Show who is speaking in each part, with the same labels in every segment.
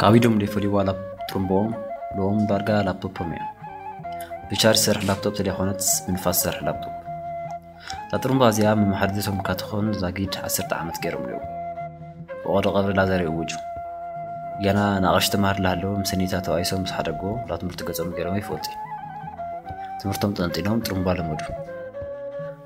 Speaker 1: ካብ ኢዶም ዘይፈልይዋ ጥርምቦኦም ሎም ዳርጋ ላፕቶፖም እያ ብቻርጅ ዝሰርሕ ላፕቶፕ ተደይኮነትስ ብንፋስ ዝሰርሕ ላፕቶፕ እታ ጥርምባ እዚኣ መመሓድሪቶም ካትኾን ዛጊድ ዓሰርተ ዓመት ገይሮም ኣለዉ ብቐዶ ቀብሪ ላዘር ይእውጁ ገና ንኣቕሽ ተምሃር ላሃለዉ ምስ ኒታ ተባኢሶም ምስ ሓደጎ ላ ትምህርቲ ገጾም ገይሮም ይፈልጡ ትምህርቶም ጠንጢኖም ጥርምባ ለመዱ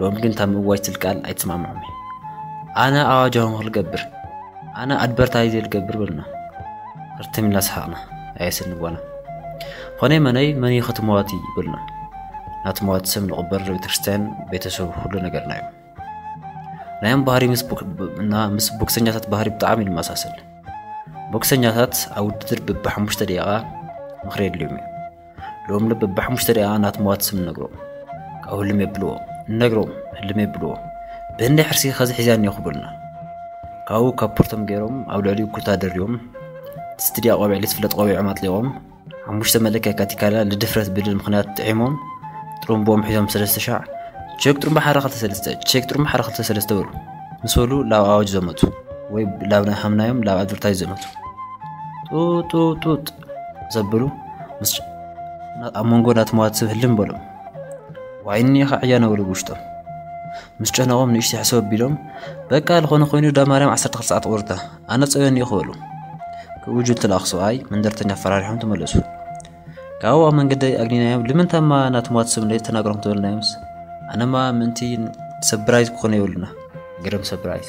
Speaker 1: ሎሚ ግን እታ ምእዋጅ ትብል ቃል ኣይትስማምዖም እዩ ኣነ ኣዋጃውን ክልገብር ኣነ ኣድበርታይዘ ልገብር በልና ርትም ኢልና ሰሓቕና ኣየስኒ ጓና ኾነይ መነይ መን እዩ ከትመዋቲ ይብልና ናቲ መዋቲ ስም ንቕበር ቤተክርስትያን ቤተሰብ ኩሉ ነገርና እዩ ናዮም ባህሪ ምስ ቦክሰኛታት ባህሪ ብጣዕሚ ይመሳሰል ቦክሰኛታት ኣብ ውድድር ብብሓሙሽተ ደቂቓ ምኽሪ የድልዮም እዩ ሎም ልብ ብሓሙሽተ ደኣ ናት መዋት ስም ነግሮም ካብኡ ህልም የብልዎ ነግሮም ህልም የብልዎ ብህንዲ ሕርሲ ከዚ ሒዝያን እዮ ክብሉና ካብኡ ካብ ፖርቶም ገይሮም ኣብ ልዕሊኡ ኩታ ደርዮም ስትድያ ቆቢዕ ልትፍለጥ ቆቢዖም ኣጥሊቖም ሓሙሽተ መለክያ ካቲካላ ልድፍረት ብልል ምክንያት ጥዒሞም ጥሩምቦም ሒዞም ሰለስተ ሻዕ ቼክ ጥሩምባ ሓደ ክልተ ሰለስተ ቼክ ጥሩምባ ሓደ ክልተ ሰለስተ በሉ ምስ በሉ ላብ ኣዋጅ ዘመቱ ወይ ላብ ሃምናዮም ላብ ኣድቨርታይዝ ዘመቱ ጡጡጡጥ ዘብሉ ምስ ኣብ መንጎ ናትመዋት ሰብ ህልም በሎም ዋይኒ ከዕያ ነበሉ ብውሽጦም ምስ ጨነቖም ንእሽተ ሕሰብ ኣቢሎም በቃ ዝኾነ ኮይኑ ዳ ማርያም 12 ሰዓት ቁርታ ኣነ ፀበኒ እዩ ክበሉ ክብኡ ጁል ተላእኽ ሰብኣይ መንደርተኛ ኣፈራሪሖም ተመለሱ ካብኡ ኣብ መንገዲ ኣግኒናዮም ልምንታማ ናትመዋት ሰብ እንደ ተናግሮም ተበልናዮምስ ኣነማ ምእንቲ ሰብራይዝ ክኾነ የብሉና ግርም ሰብራይዝ